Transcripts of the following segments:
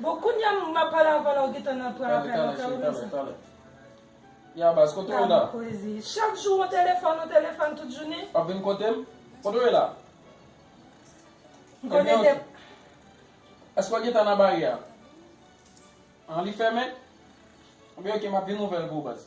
Bon kounya m ap al avan la ou gentan nan pran apèl la frè ou menm sa. Ya baz kote ou la. Chak jou ou telefòn ou telefòn tout jounen. Wap vin kote m? Kote ou ye la? M konnen de. Eske ou gentan nan baryè a? An li fèmen? Ebyen ok m ap vin ouvè l pou ou baz.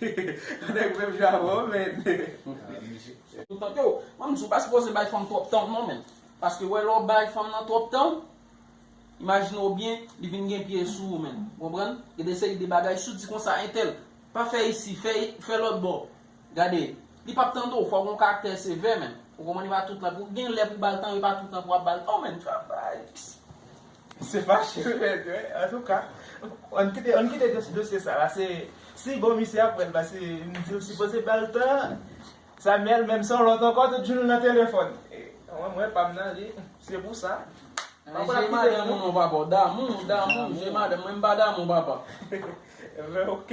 Yon nèg menm jan avè w menn. Ou tande w, mwen m di w pa sipoze bay fanm twòp tan w non menn. Paske wè lè w bay fanm nan twòp tan w, imajine w byen li vin gen pye sou ou menn. Ou konprann? Gen de seri de bagay si w di konsa entèl, pa fè isi, fè lòtbò. Gade, li p ap tande w, fò w gen yon karaktè sevè menn. Ou konprann e pa tout tan, gen lè pou w ba l tan w e pa tout tan pou w ap ba l tan w menn. Travay! Se pa cheve vèt yo wi antouka ann kite ann kite dosye sa la se si bon misye ap prann pase m di ou sipoze bal tan Samuel menm son lòt ankò tout jounn li nan telefòn mwen mwen pam nan li se pou sa pa pral ap kite moun non papa damou damou je madanm mwen m pa damou papa. Mwen ok.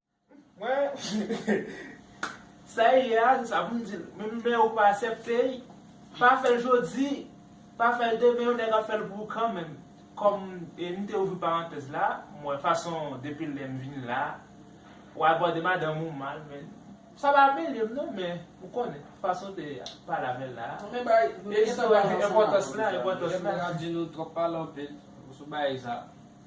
Mwen Sa ye a se sa poum dil menm lè ou pa asèpte li pa fèl jodi pa fèl demen yon nèg ap fèl pou ou kanmenm kòm m te ouvri parantèz la m wè fason depi lèm vin la ou abòde madanm ou mal men sa pa mele m non men ou konnen fason te pale avèl la enpòtans la enpòtans la.